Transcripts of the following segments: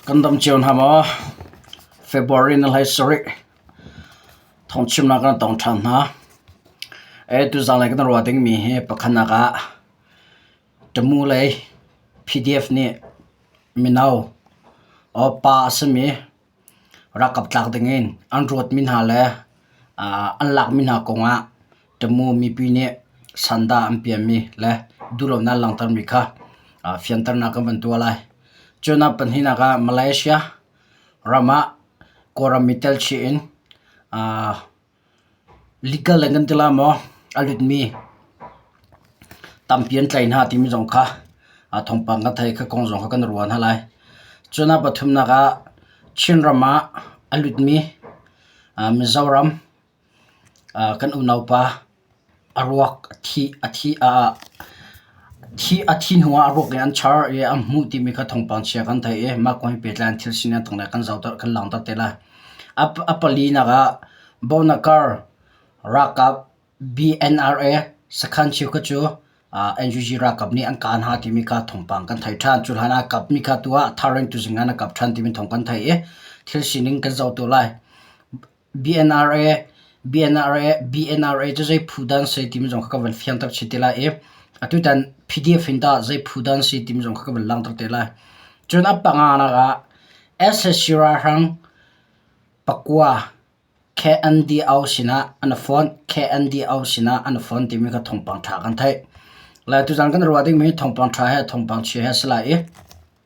Kan dam cio hna maw? February ni hlei sarih thawngchimnak kan tong ṭhan hna. Ee, tuzang lei kan ruah dingmi hi pakhatnak ah Tamu lei PDF nih mino or pa a simi Ralkap tlak dingin an ruatmi hna le an lakmi hna kongah Tamu mipi nih sandah an piahmi le duhlonak langhtermi kha fianternak kan van tuah lai. Cun ah pahnihnak ah Malaysia ram ah Kawlram i telchih in Likal in kan tila maw a lutmi tampi an tlai hna timi zong kha thawngpang kan theih i kha kong zong kha kan ruah hna lai. Cun a pathumnak ah Chinram ah a lutmi Mizoram kan unaupa A ruak a thih a thih hnuah a ruak hi an char i an hmuh timi kha thawngpang chia kan theih i mah kong he pehtlai in thil sining tang le kan zohter kan langhter te lai. A palinak ah Bonakar ralkap BNRA sakhan cheu kha cu NUG ralkap nih an kah hna timi kha thawngpang kan theih ṭhan. Cu hlan ah a kap mi kha tu ah thar in tuzing ah an rak kap ṭhan timi thawng kan theih i thil sining kan zohter lai. BNRA, BNRA, BNRA cu zei phu dan si timi zong kha ka van fiang tak chih te lai i atutan PDF in tah zei phu dan si timi zong kha ka van lang tak te lai. Cun a panganak ah SSC ralhrang pakua KNDO sinah an i fon, KNDO sinah an i fon timi kha thawngpang ṭha kan theih. Lai tuzan kan ruah dingmi thawngpang ṭha he thawngpang chia he a si lai i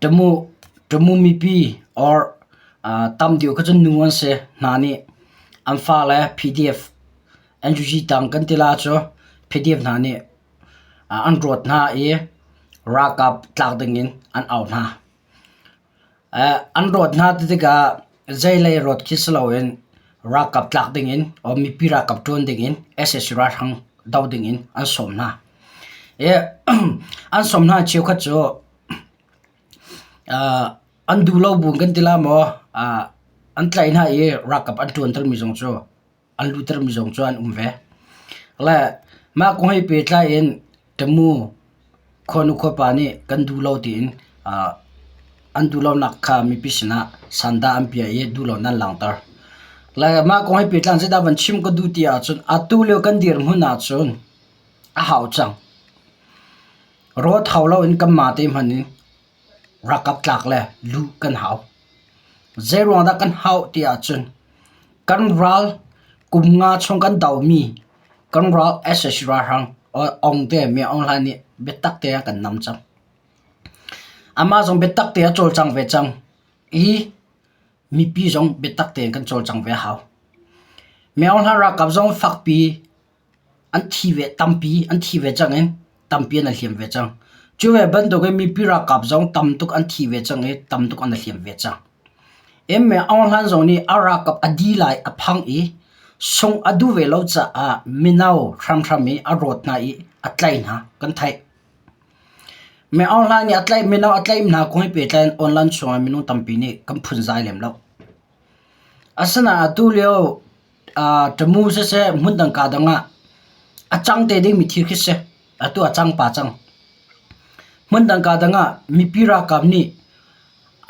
Ṭamu, ṭamu mipi or tam deuh kha cu nu an si. Hna nih an fale PDF, NUG tang kan tila cu PDF hna nih an rawt hna i ralkap tlak dingin an au hna. An rawt hna ti tikah Zeilei rawt khi si loin ralkap tlak dingin or mipi ralkap ṭuan dingin sac ralhrang doh dingin an sawm hna. I an sawm hna cheukhat cu an duh lo bu kan ti la maw an tlaih hna i ralkap an ṭuantermi zong cu an lu termi zong cu an um ve. Le mah kong he pehtlai in Ṭamu khuanu khuapa nih kan duh lo tiin ah an duh lonak kha mipi sinah sandah an piah i duh loin an langhter. Le mah kong he pehtlai in zeidah van chim ka duh ti ahcun atu lio kan dirhmun ahcun a hau cang. Rawt hau loin kan mate hmanh in Ralkap tlak le lu kan hau. Zeiruang dah kan hauh ti ahcun kan ral kum nga chung kan domi kan ral sac ralhrang ong te mei ong hlan nih biatak te a kan nam cang. Amah zong biatak te a cawlcang ve cang i mipi zong biatak te in kan cawlcang ve a hau. Mei ong hlan ralkap zong fakpi an thi ve tampi an thi ve cang i tampi an hliam ve cang. Cu ve bantuk in mipi ralkap zong tam tuk an thi ve cang i tam tuk an hliam ve cang. Em me Aung Hlain zong nih a ralkap a di lai a phang i sung a duh ve lo caah mino hramhram i a rawt hna i a tlaih hna kan theih. Me Aung Hlain nih a tlaih mino a tlaih hna kong he pehtlai in online chungah minung tampi nih kan phunzai lem lo. Asinain atulio ṭamu siseh hmundang kaa dang ah a cang te dingmi thil khi si. Atu a cang pah cang. Hmundang kaa dang ah mipi ralkap nih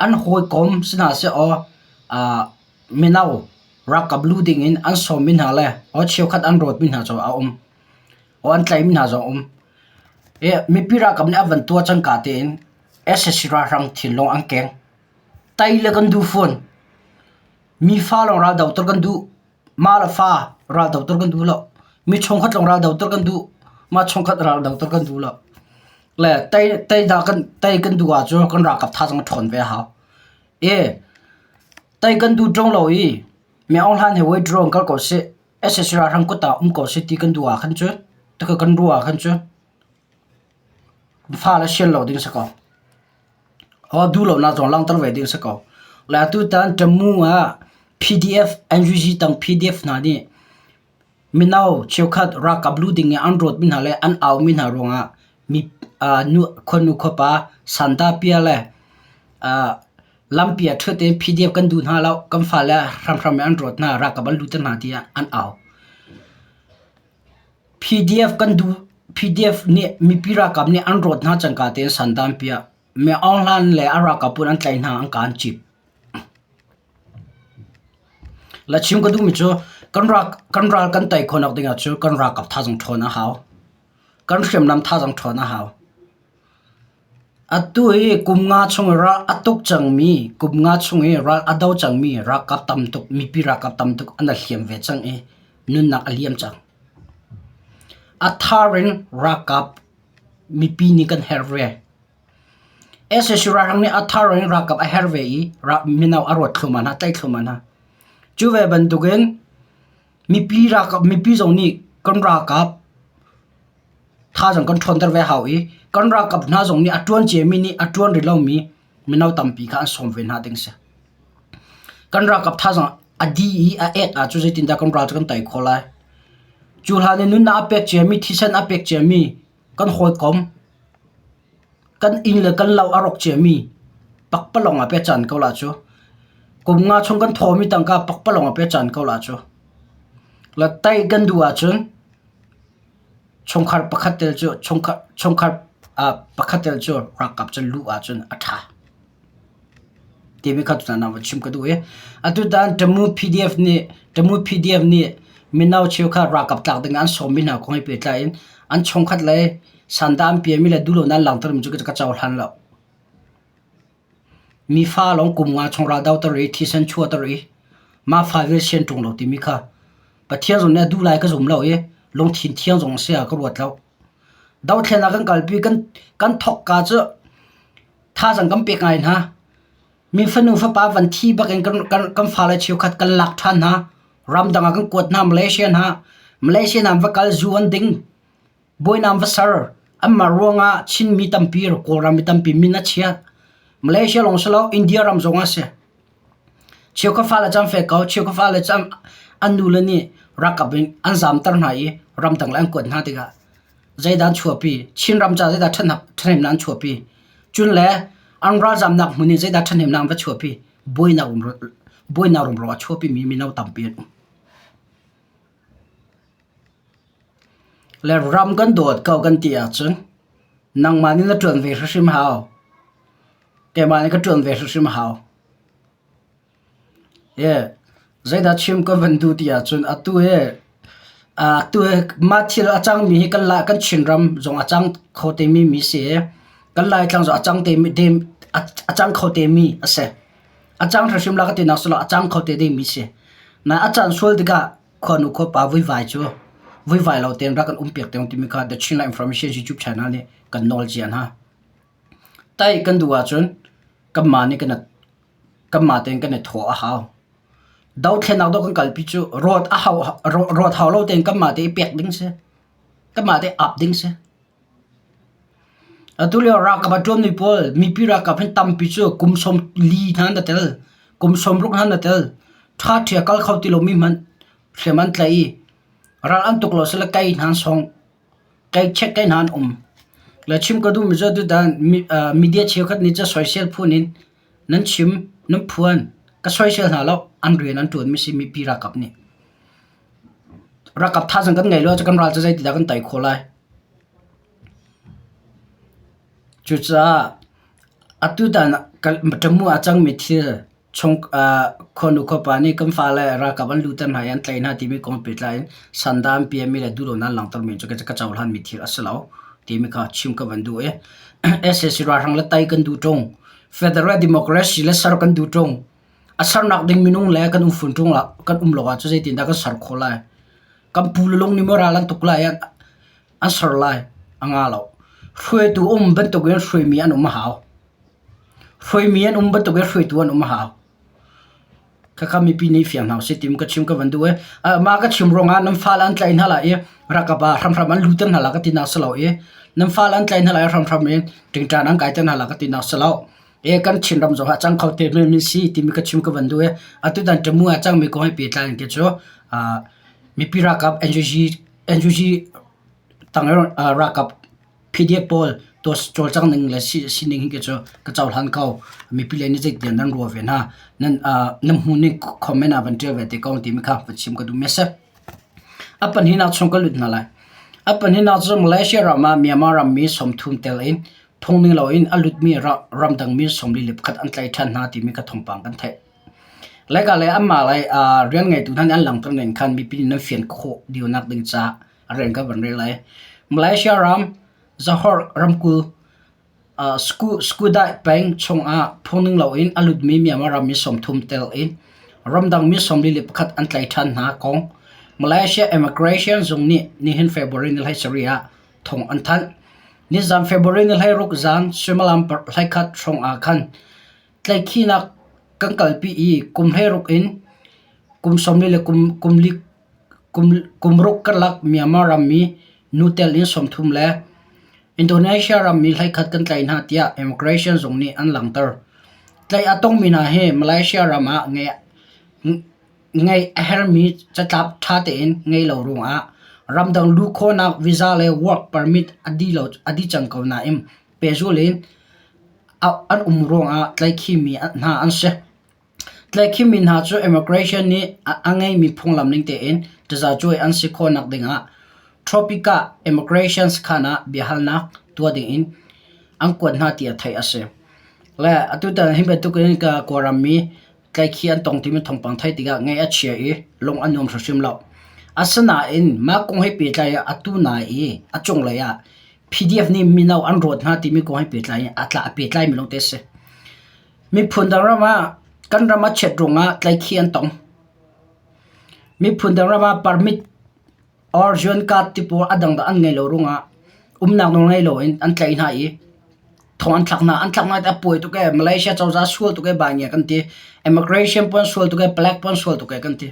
an hawikom si hna sehlaw mino ralkap lu dingin an sawmmi hna le aw cheukhat an rawtmi hna cu a um. Aw an tlaihmi hna zong a um. Mipi ralkap nih a van tuah cangka tein sac ralhrang thil lawng an keng. Tei le kan duh fawn. Mi fa lawng ral doter kan duh. Ma le fa ral doter kan duh lo. Mi chungkhat lawng ral doter kan duh. Ma chungkhat ral doter kan duh lo. Le tei tei da kan tei kan duh ahcun kan ralkap thazang a ṭhawn ve a hau. E tei kan duh ṭung lo i mi ohlan he withdraw in kal ko sih. SSC ralhrang kut ah um ko sih ti kan duh ahkhan cu tikha kan ruah ahkhan cu fa le sian lo ding a si ko. duhlonak zong langhter ve ding a si ko. Le atutan Ṭamu ah PDF NUG tang PDF hna nih mino cheukhat ralkap lu ding in an rawtmi hna le an aumi hna ruangah mi khuanu khuapa santapia le lampi ah ṭhut in PDF kan duh hna lo kan fale hramhram in an rawt hna ralkap an lutter hna tiah an au. PDF nih mipi ralkap nih an rawt hna cangka te in san dan piah, mi aung hlan le a ralkap pawl an tlaih hna an kaa an cip. La chim ka duhmi cu kan ral kan tei khawh nak ding ah cu kan ralkap thazang ṭhawn a hau. Kan hriamnam thazang ṭhawn a hau. Atu hi kum nga chung i ral a tuk cangmi, kum nga chung i ral a do cangmi ralkap tam tuk, mipi ralkap tam tuk an hliam ve cang i nunnak a liam cang. A thar in ralkap mipi nih kan herh ve. SSC ralhrang nih a thar in ralkap a herh ve i mino a ruat thluahmah hna, tlaih thluahmah hna. Cu ve bantuk in Mipi ralkap mipi zong nih kan ralkap thaizang kan ṭhawnter ve hau i kan ralkap hna zong nih a ṭuan ciami nih a ṭuan rih lomi mino tampi kha an sawm ve hna ding a si. Kan ralkap thaizang a di i a ek ah cu zeitindah kan ral cu kan tei khawh lai? Cu hlan i nunnak a pek ciami, thisen a pek ciami kan hawikom, kan inn le kan lo a rawk ciami pakpalawng ah pecan ko la cu. Kum nga chung kan thawmi tangka pakpalawng ah pecan ko la cu. La tai kan duh ahcun chungkhar pakhat tel cu chungkhar chungkhar ah pakhat tel cu ralkap cu luh ahcun a ṭha. TV kha tutan ah va chim ka duh i atutan Tamu PDF nih Tamu PDF nih mino cheu kha ralkap tlak ding ah an sawmmi hna kong he pehtlai in an chungkhat lei sanda an piahmi le duh lonak langhtermi cu ka cohlan lo. Mi fa lawng kum nga chung raldoh ter i thisen chuah ter i mah fa vial sian ṭung lo timi kha Pathian zong nih a duh lai ka zum lo i lungthin thiang zong a si ah ka ruat lo. Dothlenak kan kalpi kan, kan thawkka cu thazang kan pek ngai hna mi fanu fapa van thi bakin kan kan kan fa le chiu khat kan lak than hna ramdang ah kan kuat hna malaysia na malaysia nam va kal zu an ding boinam va sar amma ruanga chin mi tampi kawlram mi tampi min a chia malaysia long salo india ram zong a si Cheu ka fale cu an fek ko, cheu ka fale cu an nule nih ralkap in an zamter hna i ramdang le an kuat hna tikah zeidah an chuahpi, Chinram caah zeidah ṭhahnemnak an chuahpi, cun le an ralzamnak hmun in zeidah ṭhahnemnak an va chuahpi, buainak rumro a chuahpimi mino tampi an um. Le ram kan dawt ko kan ti ahcun nangmah nih na ṭuan ve hrimhrim hau. Keimah nih ka ṭuan ve hrimhrim hau. Ie, zeidah chim kan van duh ti ahcun atu hi atu hi mah thil a cangmi hi kan lah kan Chinram zong a cang kho temi mi si i kan Laitlang zong a cang temi a cang kho temi a si. A cang thra hrim la ka ti nak silo a cang kho te ding mi si. Na a can sual tikah khuanu khua pa vuivai cu vuivai lo ten rak kan um piak tiong timi kha The Chin La Information YouTube channel nih kan nawl cian ha. Tai kan du ahcun kan ma nih kan kan ma ten kan i thaw a hau. Do thlen nak do kan kal pi cu rot a hau rot hau lo ten kan ma te i pek ding si. Kan ma te ap ding si. Atulio ralkap a ṭuanmi pawl mipi ralkap an tampi cu kum sawm li hna an tel, kum sawmruk hna an tel. Ṭhaṭhi a kal kho ti lomi hmanh hriam an tlaih i ral an tuk lo sile kei hna sawng kei check kei hna an um. Le chim ka duhmi cu atutan media cheukhat nih cun soisel phun in Nan chim, nan phuan, ka soisel hna lo, an rian an ṭuanmi a simi Pi Ralkap nih. Ralkap thazang kan ngei lo ahcun kan ral cu zeitindah kan tei khawh lai? Cucaah atutan ah Ṭamu ah a cangmi thil chung khuanu khuapa nih kan fale ralkap an luhter hna i an tlaih hna timi kong pehtlai in sanda an piahmi le duhlonak an langhtermi cu ka cohlanmi thil a si lo timi kha chim ka van duh i, sac ralhrang le tei kan duh ṭung. Federal Democracy le ser kan duh ṭung. A sernak ding minung le kan um fun ṭung lah, kan um lo ahcun zeitindah kan ser khawh lai? Kan pu le lung nih maw ral an tuk lai i an, an ser lai? A nga lo. Hruaitu um bantuk in hruaimi an um a hau. Hruaimi an um bantuk in hruaitu an um a hau. Khakha mipi nih fiang hna usih timu ka chim ka van duh i mah ka chim ruangah nan fale an tlaih hna lai i rakap ah hramhram an luter hna lai ka tinak si lo i nan fale an tlaih hna lai hramhram i ṭingṭan an kaiter hna lai ka tinak si lo. I kan Chinram zong ah cang kho te men min si timi ka chim ka van duh i atutan ṭemu ah cangmi kong he pehtlai in ke cu mipi ralkap NUG NUG tang i ralkap PDF pawl dawt cawlcang ning le sining hi cu ka cohlan ko. Mipi le nih zeitiah nan ruah ve hna. Nan, uh, nan hmu ning comment ah van ṭial ve te ko timi kha va chim ka duh mi a si. A pahnihnak chung ka lut hna lai. A pahnihnak cu Malaysia ram ah Myanmar ram mi sawmthum tel in phungning loin a lut mi ramdang mi sawmli le pakhat an tlaih ṭhan hna timi kha thawngpang kan theih. Lai ka le anmah lai uh, rian ngeitu hna nih an langhter ning khan mipi nih nan fian khawh dio nak ding caah a rel kan van rel lai. Malaysia ram Johor ramkulh ah Skudai peng chungah phungning loin a lutmi Myanmar ram mi sawmthum tel i ramdang mi sawmli le pakhat an tlai ṭhan hna kong Malaysia Immigration Zung nih nihin February ni hlai sarih ah thawng an thanh. Nizan February ni hlai ruk zan suimilam hlai khat hrawng ah khan tlaihkhinak kan kalpi i kum hlei ruk in kum sawmli le kum, kum li Kumruk karlak Myanmar ram i nu tel in sawmthum le Indonesia ram i hleikhat kan tlaih hna tiah immigration zung nih an langhter. Tlaih a tongmi hna hi Malaysia ram ah ngeih a herhmi catlap ṭha tein ngei lo ruangah ramdang luh khawhnak visa le work permit a dih cang ko nain pehzul in an um ruangah tlaihkhimi hna an si. Tlaihkhim mi hna cu immigration nih a ngeimi phunglam ning tein tazacuai an si khawhnak dingah tropicah immigration sakhan ah biahalnak tuah dingin an kuat hna tiah theih a si. Le atu tan hi bantukin Kawlram mi tlaihkhih an tong timi thawngpang theih tikah ngaih a chia i lung a nuam hrimhrim lo. Asinain mah kong he pehtlai in atu nai i a cunglei ah PDF nih mino an rawt hna timi kong he pehtlai in a tla a pehtlaimi lawngte a si. Miphun dang ram ah kan ram a chiat ruangah tlaikhi an tong. Miphun dang ram ah permit or UN card tipawl a dang dah an ngei lo ruangah umnak nawl ngei loin an tlaih hna i thong an thlak hna. An thlak hna hi tah a pawi tuk ee. Malaysia cozah sual tuk ee, bai ngia kan ti. Immigration puan sual tuk ee, black puan sual tuk ee kan ti.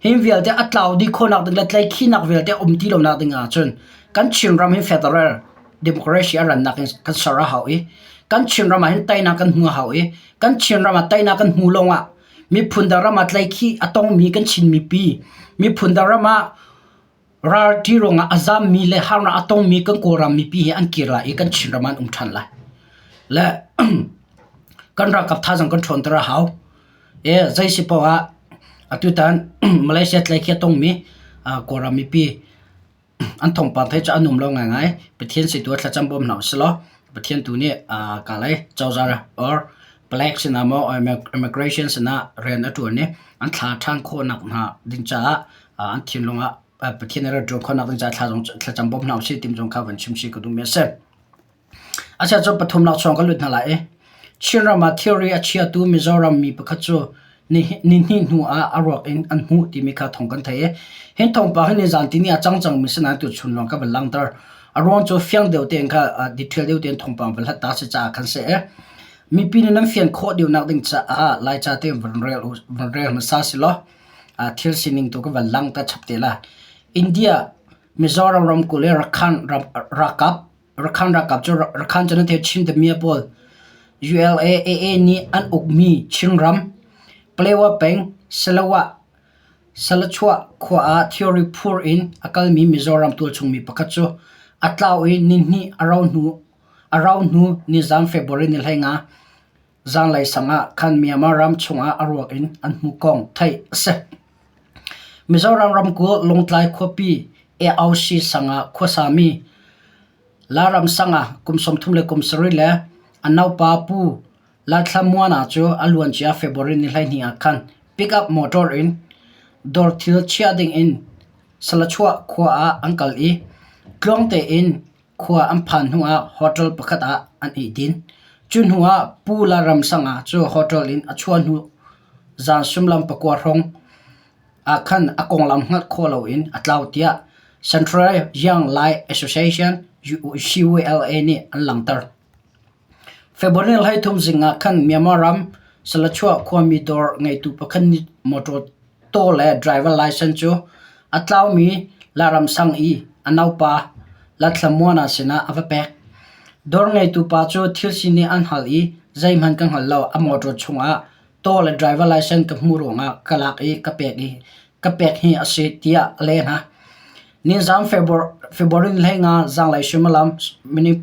Hi vialte a tlau dih khawhnak ding le tleikhinak vialte a um ti lonak ding ahcun kan Chinram hi federal democracy a rannak in kan ser a hau i kan Chinram ahhin teinak kan hmu a hau i kan Chinram ah teinak kan hmu lawngah miphun dang ram ah tleikhi a tongmi kan Chin mipi miphun dang ram ah ral ṭi ruangah a zammi le harnak a tongmi kan Kawlram mipi hi an kir lai i kan Chinram an um ṭhan lai. Le kan ralkap thaizang kan ṭhawnter a hau. E, zei si paoh ah atutan Malaysia tlai khi a tongmi uh, Kawlram mipi an thawngpang thei cu an um lo ngaingai. Pathian si tu thlacam bawm hna u silaw Pathian tu nih uh, kalai cozar or Black sinah maw immigration sinah rian a ṭuan i an thla ṭhan khawhnak hna ding caah an thinlung ah Pathian a rat ṭuan khawhnak ding caah thla zong thlacam bawm hna usih timi zong kha van chim chih ka duhmi a si. A chhan cu pathum laksawng ka lut hna lai i Chinram ah thilri a chiatu Mizoram mi pakhat cu Nihnih hnu ah a ruak in an hmuh timi kha thawng kan theih i hi thawngpang hi nizaan ni a cang cangmi si nain tuchun lawng ka va langhter. A ruang cu fiang deuh tein kha detail deuh tein thawngpang va hlat ta si caah khan si ee. Mipi nih nan fian khawh deuhnak ding caah Laica tein van rel hmasa silaw thil sining tu ka van langh ta chap te lai. India, Mizoram ramkulh i Rakhine ralkap Rakhan ralkap cu Rakhan cu nan theih chin deuhmi a pawl. ULA AA nih an ukmi Chinram, Palawa peng, Sarawak, Saluchuah khua ah theory phur in a kalmi Mizoram tualchungmi pakhat cu a tlau i nihnih a rau hnu ni zaan February ni hleinga Zanglei sang ah khan Myanmar ram chungah a ruak in an hmu kong theih a si. Mizoram ramkulh Lungtlai khuapi AOC sang ah khuasami Laram sang ah kum sawmthum le kum sarih le a naupa pu Lathlamuana cu a luancia February ni hleihnih ah khan pickup motor in dawr thil chiah ding in Salachuah khua ah an kal i tluang tein khua an phan hnuah hotel pakhat ah an i din. Cu hnuah Pu Lal Ram Sanga cu hotel in a chuah hnu zan sullam pakua hrawng ah khan a konglam hngalh khawh loin a tlau tiah Central Young Life Association, UCLA, nih an langhter. February hleithum zing ah khan Myanmar ram Selachuah khuami dawr ngeitu pakhat nih mawṭaw taw le driver license cu a tlaumi Laram sang i a naupa Lathlamuana sinah a va pek. Dawr ngeitu pa cu thil si nih an hngalh i zeihmanh ka hngal lo, a mawṭaw chungah taw le driver license ka hmuh ruangah ka lak i ka pek i ka pek hi a si tiah a leh hna. Ninzang February ni hleinga zanglei suimilam minute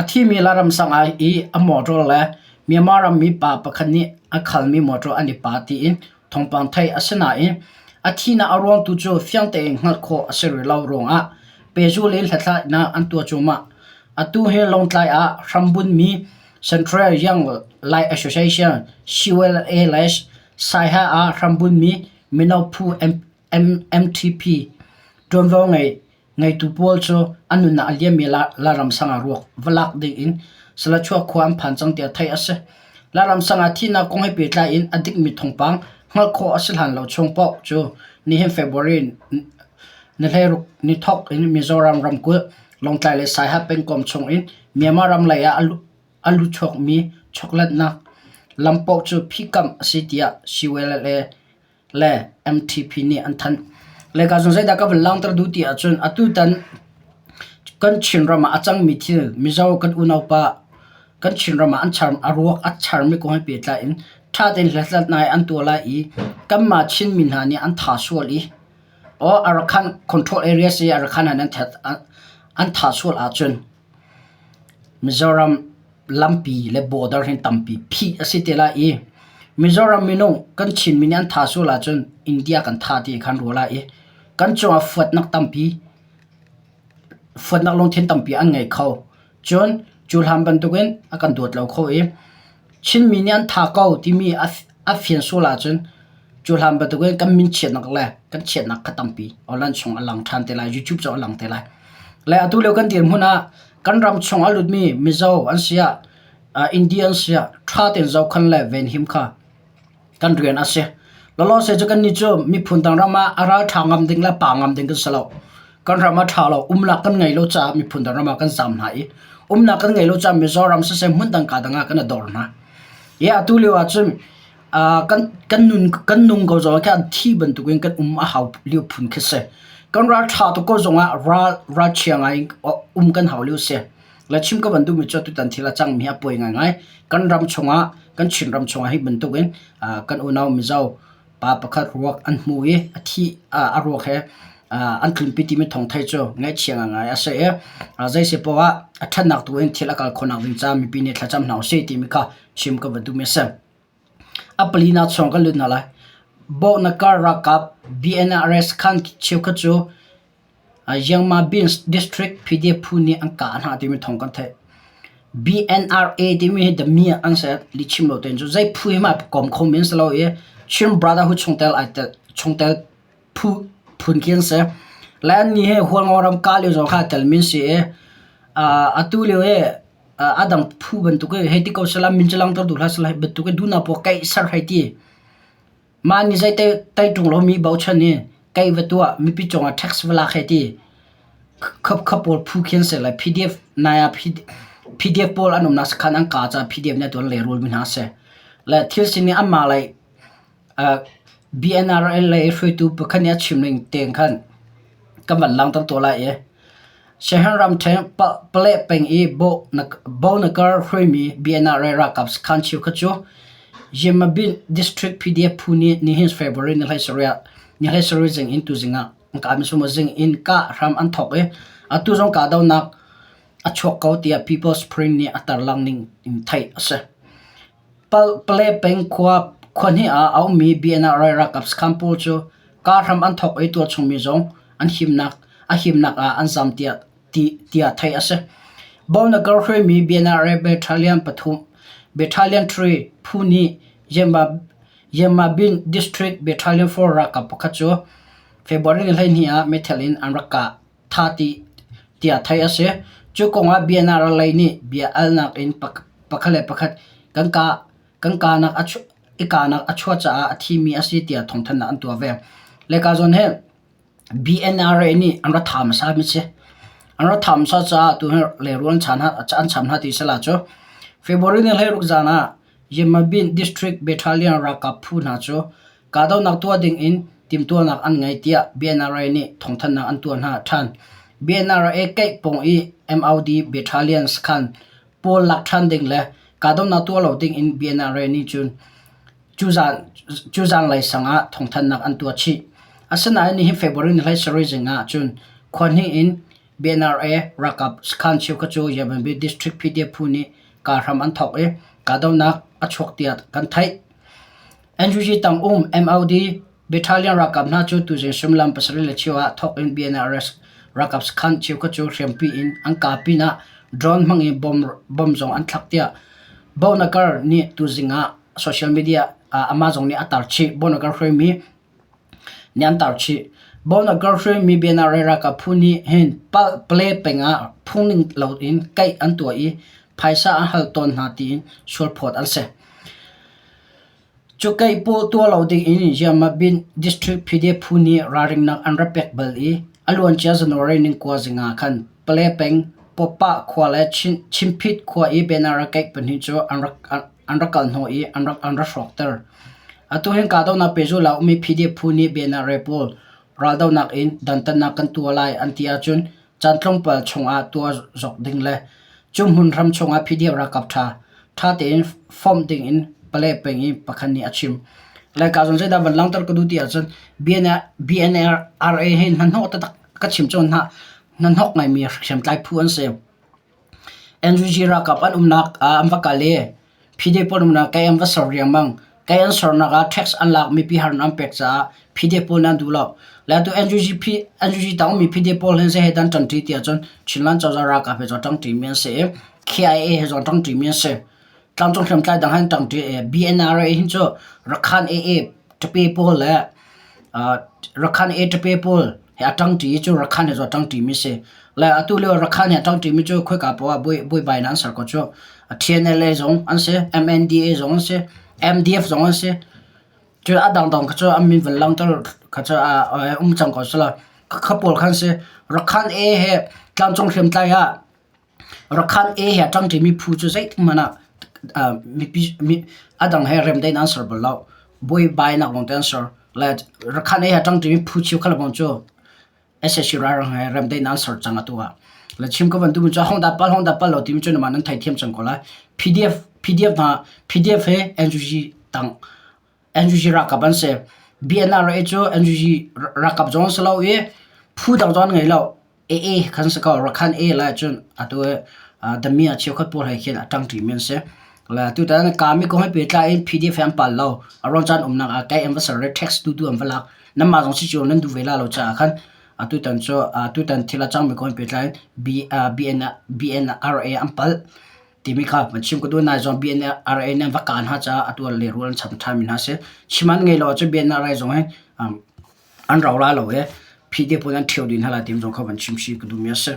A thimi le ramsang ah i a motor le Myanmar ram mipa pakhat nih a khalmi motor an i pa tiin thawngpang theih a si nain a thihnak a ruang tu cu fiang tein hngalh khawh a si rih lo ruangah pehzulh in hlathlainak an tuah cuahmah. Atu hi Lawngtlai ah hrambunmi Central Younglike Association CYLS Saiha ah hrambunmi mino phu MTP ṭuanvo ngei Ngeitu pawl cu an nunnak a liam i Laram sang ah ruak va lak dingin Salachuah khua an phan cang tiah theih a si. Laram sang ah thihnak kong he pehtlai in a dikmi thawngpang hngalh khawh a si hlan lo chung paoh cu nihin February ni hleiruk ni thawk in Mizoram ramkulh, Lawngtlai le Saiha pengkom chungin Myanmar ram lei ah a luchuakmi choklatnak lam paoh cu phikamh a si tiah CYLA le MTP nih an thanh. Le ka zung zeidah ka van langter duh ti ahcun atutan kan Chinram ah a cangmi thil Mizo kan unaupa kan Chinram ah an char a ruak a charmi kong he pehtlai in ṭha tein hlatlat ngai an tuah lai i kanmah Chinmi hna nih an tha sual i or Arakan control areas i Arakan ah nan ṭhat an an tha sual ahcun Mizoram lampi le border hin tampi phih a si te lai i Mizoram minung kan Chinmi nih an tha sual ahcun India kan tha ti khan ruah lai i kan cungah fuatnak tampi fuatnak lungthin tampi an ngei kho cun cu hlan bantukin a kan dawt lo kho i Chinmi nih an tha ko timi a a fian sual ahcun cu hlan bantukin kan min chiatnak le kan chiatnak kha tampi online chung a lang ṭhan te lai YouTube cu a lang te lai le atu lio kan dirhmun ah Kan ram chung ah lutmi Mizo an si ah India an si ah ṭha tein zohkhan le venhim kha kan rian a si. Lawlawse cu kannih cu miphun dang ram ah a ralṭha ngam ding le pa ngam ding kan si lo. Kan ram ah ṭha lo umnak kan ngei lo caah miphun dang ram ah kan zaam hna i umnak kan ngei lo caah Mizoram siseh hmun dang kaa dang ah kan i dor hna. Hi atu lio ahcun ah kan nun kan nung ko zong ah khan thi bantuk in kan um a hau lio phun khi si kan ralṭha tuk ko zong ah ral ralchia ngai in um kan hau lio si la chim ka bantuk mi cu tutan thil a cang mi a poi ngai ngai kan ram chungah kan Chin ram chungah hi bantuk in kan unau Mizo pa pakhat ruak an hmu i a thi a ruak he an tlunpi ti mi thong thai cu ngaihchia ngai a se a zai se po ah a ṭhatnak tu in thil a kal khonak ding ca mipi nih thlacam hna u se ti mi kha chim ka bantuk mi a si A pali nak chuang kan lut hna lai. Bohnakar ralkap BNRS khan cheukhat cu Yangma Beans District PDF phu nih an kah hna timi thawng kan theih. BNRA timi hi The Mi ah an si lihchim lo tein cu zei phu hi mah pawm khomi an si lo i Chin Brotherhood chungtel ai tel chungtel phun khi an si. Le annih hi hualngo ram kah lio zong kha a telmi an si i aa atu lio i a dang phu bantuk i hei ti ko sehla min cu langhtertu hla sehla hi bantuk i duhnak paoh keih ser hei ti. Mah nih zei taiṭung lomi bochan i keih va tuah mipi cungah tax va lak hei ti. Khapkhap pawl phu khi an si le PDF nai ah PDF pawl an umnak sakhan an kah caah PDF nih atu an lehrulmi hna a si. Le thil sining anmah lei BNRL lei hruaitu pakhat nih a chim ning tein khan kan van langhter tawn lai i Shan ramṭhen Pale peng i Bonaker hruaimi BNRL ralkap sakhan cheu khat cu Yemabin district PDF phu nih nihin February ni hlei sarih zing in tuzing ah ka misum zing in kah hram an thawk i atu zong kahdohnak a chuak ko tiah People's Spring nih a tarlang ning in theih a si. Palkpale peng khua khua-hnih ah a ummi BNR rai ralkap sakhan pawl cu kaa hram an thawk i tualchungmi zong an himnak ah an zam tiah theih a si. Bonaker hruaimi BNR Battalion pathum Battalion 3 phu nih Yemabin District Battalion 4 ralkap pakhat cu February hleihnih ah meithal in an rak kah. thah dih tiah theih a si. Cu kong ah Biana ralei nih bia alnak in pakhat le pakhat kan kaa kan kaanak a i kaanak a chuah caah a thimi a si tiah thawngthanhnak an tuah ve. Lehka zawn hi BNRA nih an ra tha hmasa mi si. An ra tha hmasa caah tu hi lerual an cham hna ti si la cu. February ni hlei ruk zan ah Yemabin District Battalion ralkap phu hna cu Kahdohnak tuah dingin timhtuahnak an ngei tiah BNRA nih thawngthanhnak an tuah hna ṭhan. BNRA Keihpawng i MOD Battalions khan pawl lak ṭhan ding le kahdohnak tuah lo dingin BNRA nih cun cu zan cu zanlei sangah thawngthanhnak an tuah chih. Asinain nihin February ni hlai sarih zing ah cun khua hnih in BNRA ralkap sakhan cheukhat cu Yemen District PDF phu nih kaa hram an thawk i kahdohnak a chuak tiah kan theih. NUG tang um MLD Battalion ralkap hna cu tuzing suimilam pasarih le cheu ah thawk in BNRS ralkap sakhan cheukhat cu hriampi in an kaa pinah drone hmang in bomb zong an thlak tiah Bohnakar nih tuzing ah social media ah Amazon nih a tar chih. Bohnakar hruaimi nih an tar chih. Bohnakar hruaimi BNRS ralkap phu nih hin Pale peng ah phungning lo in kaih an tuah i phaisa an hal tawn hna tiin sualphawt an si. Cukeih paw tuah lo dingin Yamabinh District PDF phu nih ralringnak an rak pek bal i a luancia January ni kua zing ah khan Pale peng Pawpah khua le Chimphit khua i banner a keih pahnih cu an rak kal hnawh i an rak hrawkter. Atu hin kahdohnak pehzulh ah a ummi PDF phu nih banner pawl raldohnak in dantatnak kan tuah lai an ti ahcun Caan tlawmpal chungah tuah zok ding le cuhmun ram chungah PDF ralkap ṭha ṭha tein form dingin pale peng i pakhat nih a chim. Lai ka zon zeidah van langter ka duh ti ahcun BNLRA he hnahnawh tatak ka chim cun hna hnahnawk ngaimi hriamtlai phu an si. NUG ralkap an umnak ah an va kal i PDP an umnak Kay an va ser riangmang. Kay an sernak ah tax an lak mipi har an pek caah PDP pawl nih an duh lo. Le atu NUG P- NUG tangmi PDP pawl hin seh hi dan ṭanṭi tiah cun Chinland cozah ralkap he cun ṭangṭi mi an si i KIA he cun ṭangṭi mi an si. tlangcung hriamtlai dang an ṭang ṭi e BNRA hi cu Rakhan AA ṭape pawl le uh, Rakhan AA ṭape pawl he a ṭang ṭi cu Rakhan he zu a ṭang ṭi mi si le atu lio Rakhan he a ṭang ṭi mi cu khoika poah ah buai buai bai na an ser ko cu TNLA zong an si MNDA zong an si MDF zong an si cu a dang dang kha cu an min van lang tar kha cu a um cang ko sila kha pawl khan si Rakhan AA he tlangcung hriamtlai ah Rakhan A he a ṭang ṭimi phu cu zeithmanh ah mipi a dang he remdaih in an ser bal lo. Buaibainak lawngte an ser. Le Rakhan A he a ṭang ṭimi phu cheu khat lawng cu SSC ralhrang he remdaih in an ser cang atu ah. Le chim ka bantuk in cu hong da pal hong da pal lo timi cu nangmah nan theithiam cang ko lai. PDF, PDF hna, PDF he NUG tang NUG ralkap an si. BNRA cu NUG ralkap zong an si lo i phu dang zong an ngei lo. AA kan si ko. Rakhine A lai cun atu i uh, dami a cheukhat pawl he khin a ṭangṭi mi an si. Le tutan kami kong he pehtlai in PDF he an pal lo. A ruang caan umnak ah kei an va ser i tax tu tu an va lak. Nanmah zong si cu nan duh ve la lo caah khan a tutan cu uh, tutan thil a cangmi kong he pehtlai in B, uh, BN, BNRA an pal. timi kha van chim ka duan nai zong BNRA nih va kaan ha caah atu ah lehrul an cham ṭhan mi hna si chim an ngei lo ahcun BNRA zong hi an rau la lo i phdp in an ṭhio dih hna lai timi zong kha van chim shi ka duh mi a si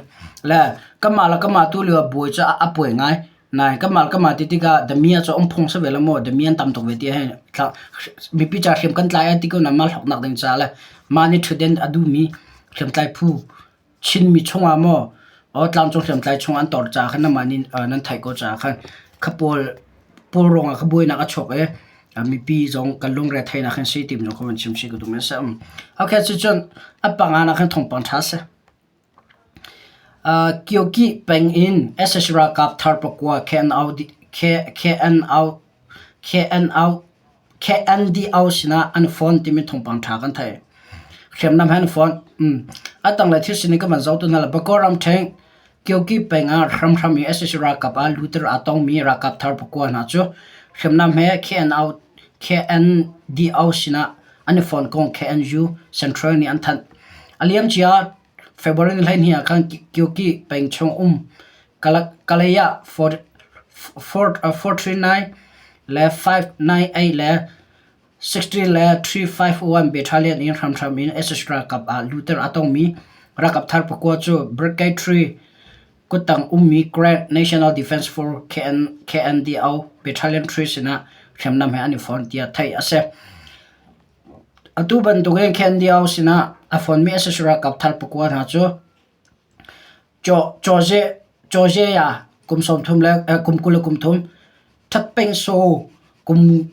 le kamah le kamah tu lio bawi cu a puai ngai nai kamah le kamah ti tikah damian cu ong phung sa ve la maw damian tam tuk ve ti hi mipi ca hriam kan tlai a ti ko na mal hawknak ding ca le mah nih ṭhuten a duh mi hriam tlai phu Chinmi chungah maw aw tlangcung hriamtlai chungah an tor caah khan nangmah nih nan theih ko caah khan kha pawl pawl ruangah ka buainak a chuak i mipi zong kan lungre theinak khan si ti minung kha van chim si ka duh men a si. Um. Ok cucun an panga nak khan thawngpang ṭha si. Uh, Kyoki peng in SSC ralkap thar pakua KNO KNO KNO KNDO sinah an phone timi thawngpang ṭha kan thei. Hriamnam he an phone. Mm. Atang le thil sin kan man zotu hna la Bakaw theng Kyoki penga hramhram i SSC rakap a luter a tong mi rakap thar pakwa hna chu hriamnam he KNO KNDO sinah an i phone kong KNU Central nih an thanh. A liam cia February ni hleihnih ah khan Kyoki pengchung um Kalaya Forty-nine le Five-nine-eight le sixteen le three-five-one battalion in hramhram in SS ralkap ah luter aa tongmi ralkap thar pakua cu Brigade Three kuttang ummi Grand National Defence Force KNDO Battalion Three sinah hriamnam he an i fon tiah theih a si. Atu bantuk in Candy-au sinah a fonmi a si sualralkap thar pakua hna cu cawze-ya kum sawmthum le kum kul le kum thum, ṭhatpengso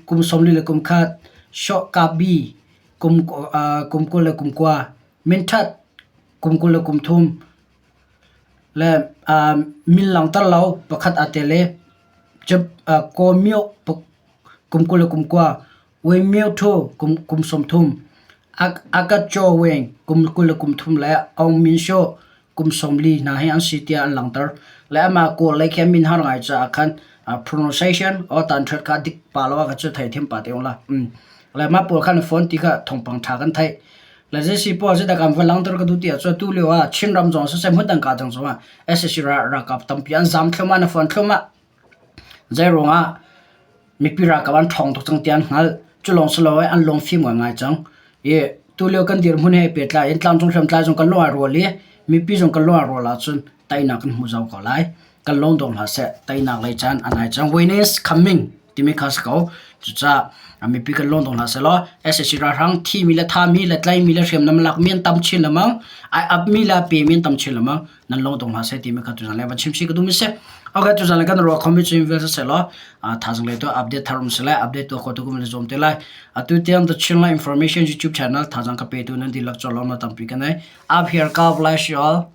kum sawmli le kum khat, shawhkabi kum kul le kum kua, minthat kum kul le kum thum le min langter lo pakhat aa tel i kawmyo kum kul le kum kua. Uimmio ṭhu kum, kum sawmthum, Agacho Weng kum kul le kum thum le Aung Min Sho kum sawmli hna hi an si tiah an langhter. Le amah kawl lei khin min har ngai caah khan pronunciation o tan ṭhat kha dik pa lo ah cu thei thiam pa te ula. Le ma pawl khan phone ti kha thongpang ṭha kan thei. Le jesi pawl si takam va langter ka du tia chu tu leo a Chin ram zong se sem hudang ka tang zong a SSC ra rakap tampi an zam thloma na phone thloma Zeiruangah mipi ralkap an ṭhawng tuk cang ti an hngalh. Cu lawng si lo i an lungfim ngaingai cang. I tulio kan dirhmun he ai pehtlai in tlangcung hriamtlai zong kan lung ai rual i mipi zong kan lung ai rual ahcun teinak kan hmu zau ko lai. Kan lawm dawh hna seh. Teinak lei caan an ai cang. Win is coming timi kha a si ko. Cucaah mipi kan lawm dawh hna seh law sac ralhrang thimi le thami le tlaimi le hriamnam a lakmi an tam chin lengmang. Ai apmi le a pemi an tam chin lengmang. nan long tong hla se ti me kha tu zan le van chim si ka tum se okay tu zan le kan ro khom bi chim vel se lo a thazang le to update tharum se le update to ko to kum le zom te lai atu tiang the chin la information youtube channel thazang ka pe tu nan di lak cho lo na tam pi kan ai up here god bless you all